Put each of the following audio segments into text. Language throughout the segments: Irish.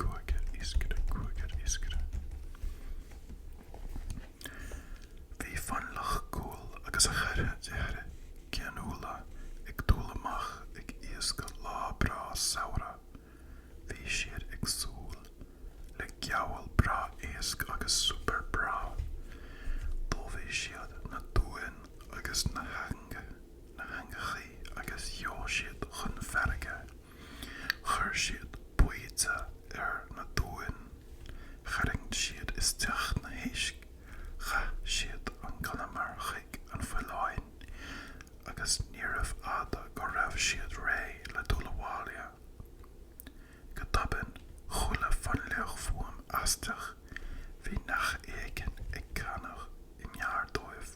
Cúigear iascaire, cúigear iascaire. Bhí Fionnlach cúthail agus a cheathrar deartháir geanúla ag dul amach ag iascach lá breá samhraidh. Bhí siad ag súil le gabháil breá iasc agus suipéar breá. D'ullmhaigh siad na duáin agus na heangaí agus sheol siad chun farraige. Chuir siad baoite ar na duáin. Tharraing siad isteach na héisc, chaith siad an conamar chuig na faoileáin agus níorbh fhada go raibh siad réidh le dul abhaile. Go tobann chuala Fionnlach fuaim aisteach, bhí neach éigin ag canadh i ngar dóibh.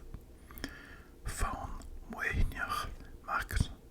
Fonn maoithneach mac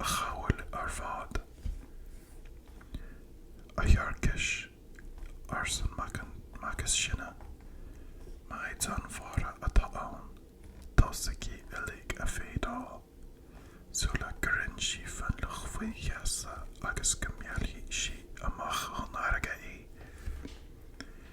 a chabhail ar fad. A Thiarcais, arsan mac is sine, maighdean mhara atá ann, tosaigí uilig ag feadaíl sula gcuireann sí Fionnlach faoi gheasa agus go meallfaidh sí amach san fharraige é.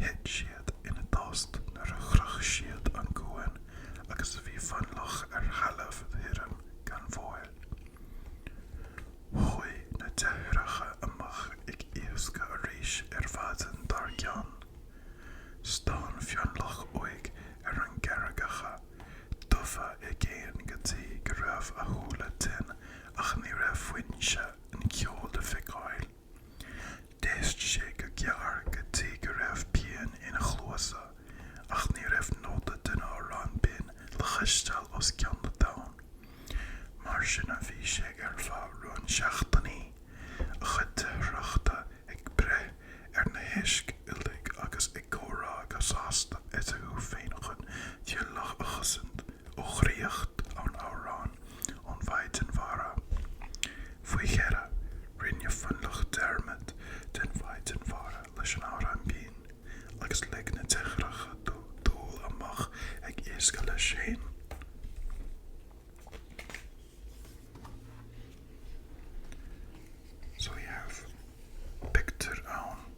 Thit siad ina dtost nuair a shroich siad an cuan agus bhí Fionnlach ar thalamh thirim gan mhoill. Chuaigh na deartháireacha amach ag iascach arís an mhaidin dár gcionn. Stán Fionnlach uaidh ar na carraigeacha dubha i gcéin go dtí go raibh a shúile tinn ach ní raibh foinse an cheoil le feiceáil. D'éist sé go géar go dtí go raibh pian ina chluasa ach ní raibh nóta den amhrán binn le cloisteáil os cionn na dtonn. Mar sin a bhí sé ar feadh roinnt seachtainí, a chuid deartháireacha ag breith ar na héisc uilig agus ag comhrá go sásta eatarthu féin chun Fionnlach a chosaint ó dhraíocht an amhráin. ón Mhaighdean Mhara. Faoi dheireadh, rinne Fionnlach dearmad den Mhaighdean Mhara leis an amhrán binn agus lig na deartháireacha dó dul amach ag iascach leis féin. So tá pictiúr ann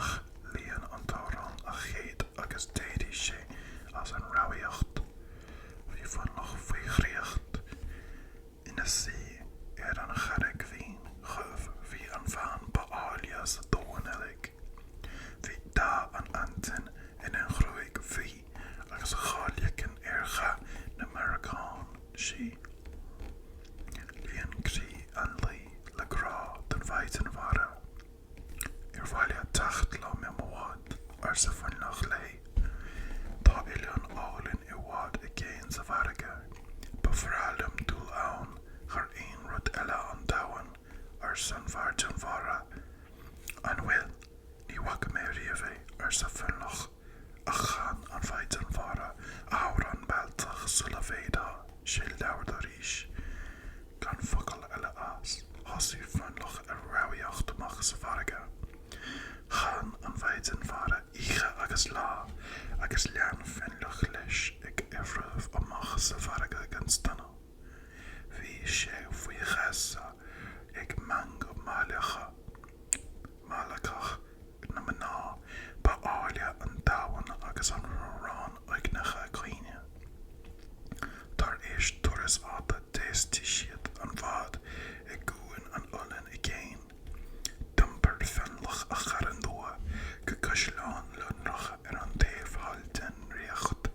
ach líon an t-amhrán a chéadfaí agus d'éirigh sé as an rámhaíocht. Bhí Fionnlach faoi dhraíocht. Ina suí ar an charraig mhín dhubh bhí an bhean ba áille sa domhan uilig. Bhí dath an aitinn ina ghruaig bhuí agus a dhá leiceann ar dhath na méaracán sí. Líon croí an laoich le grá don mhaighdean mhara. Ar mhaith leat teacht liom i mo bhád? arsa Fionnlach léi. Tá oileán álainn i bhfad i gcéin sa bhfarraige. Ba bhreá liom dul ann thar aon rud eile ar domhan, arsa an Mhaighdean Mhara. An bhfuil? Ní bhfaca mé riamh é, arsa Fionnlach. Ach chan An Mhaighdean Mhara a hamhrán mealltach sula bhféadfadh sé labhairt arís gan focal eile as. Thosaigh Fionnlach ag rámhaíocht amach sa bhfarraige. Chan An Mhaighdean Mhara Oíche agus Lá agus lean Fionnlach leis ag iomramh amach sa bhfarraige gan staonadh. Bhí sé faoi gheasa ag meangadh meallacach na mná ba áille ar domhan agus a hamhráin uaigneacha caoine. Tar éis turas fhada d'fheistigh siad an bhád i gCuan an Oileáin i gcéin. D'iompair Fionnlach a chara nua go Caisleán Lonrach ar an taobh thall den ríocht.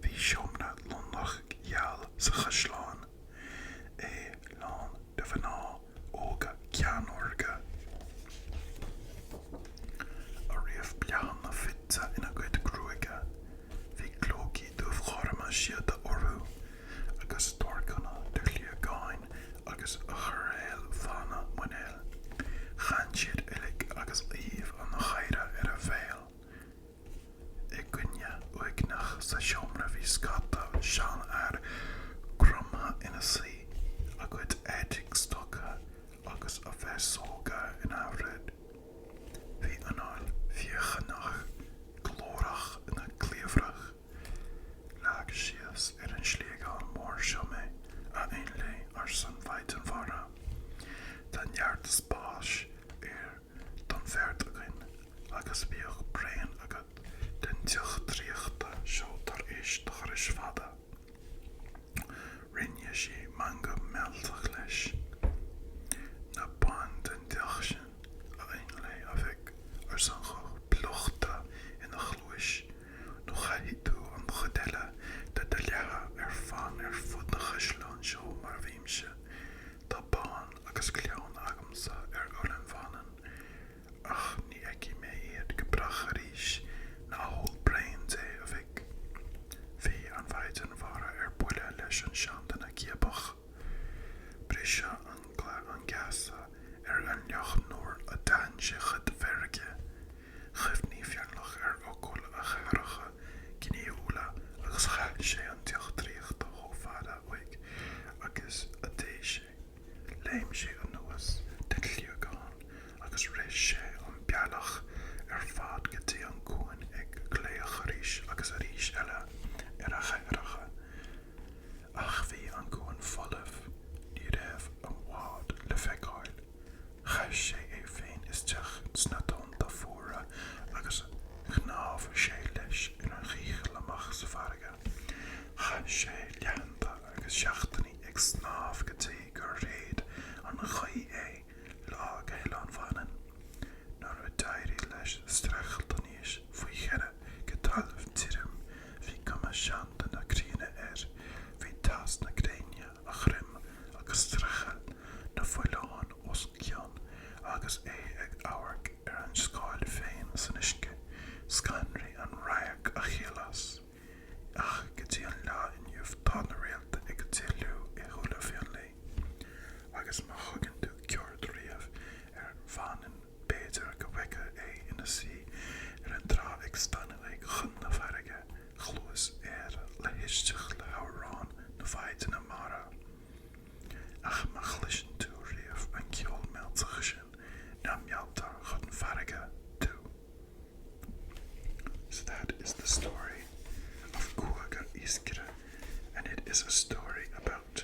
Bhí seomra lonrach gheal sa chaisleán, é lán de mhná óga ceannórga, a raibh bláthanna fite ina gcuid gruaige. Bhí clócaí dúghorma síoda orthu agus torcanna de Shliogáin agus de choiréal fána Muinéil. Chan siad uilig agus aoibh an gháire ar a bhéal. I gcúinne uaigneach sa seomra bhí scata seanfhear cromtha ina suí, a gcuid éadaigh stoctha agus a bhféasóga in aimhréidh. Bhí anáil phiachánach ghlórach ina gcliabhrach. Leag síos ar an sliogán mór seo mé, a Fhionnlaigh, arsan Mhaighdean Mhara. Tá neart spáis air don bheirt againn agus bíodh braon agat den deoch draíochta seo tar éis do thurais fada. Rinne sí meangadh mealltach leis. Ná bain den deoch sin, a Fhionnlaigh, a mhic, arsan guth plúchta ina chluais. nó caithfidh tú an chuid eile de do laethe ar fán ar fud an chaisleáin seo mar a bhímse. Tá bean agus clann agamsa ar Oileán Mhanann, ach ní fheicfidh mé iad go brách arís Ná hól braon de a mhic. Bhí an mhaighdean mhara ar buile leis an seanduine giobach. Briseadh na geasa ar Fhionnlach nuair a d'aithin sé a cuid feirge. Chuimhnigh Fearnach ar fhocail a dheartháireacha gnaíúla agus chaith sé an deoch draíochta chomh fada uaidh agus a d'fhéad sé. Léim sé anuas den shliogán agus rith sé an bealach ar fad go dtí an cuan ag glaoch arís agus arís eile ar a dheartháireacha. Ach bhí an cuan folamh, ní raibh an bád le feiceáil. Chaith sé é féin isteach sna tonnta fuara agus shnámh sé leis ar a dhícheall amach sa bhfarraige. Chaith sé laethanta agus seachtainí ag snámh go dtí gur shéid an ghaoth é lá go hOileán Mhanann. Nuair a d'éirigh leis streachailt aníos faoi dheireadh go talamh tirim Bhí cuma seanduine críonna air, bhí teas na gréine ar a dhroim agus scréachaíl na bhfaoileán os a chionn agus é ag amharc ar a scáil féin san uisce, scanraigh an radharc an chiall as. Ach go dtí an lá inniu tá na réalta ag drithliú i súile Fionlae agus má thugann tú cuairt riamh ar Mhanainn B'fhéidir go bhfeicfeá é ina shuí ar an trá ag stánadh uaidh chun na farraige, cluas air le héisteacht le hamhráin na maighdine mara. Ach má chloiseann tú riamh an ceol mealltach sin ná mealltar chun farraige tú. So that is the story of Cúigear Iascaire and it is a story about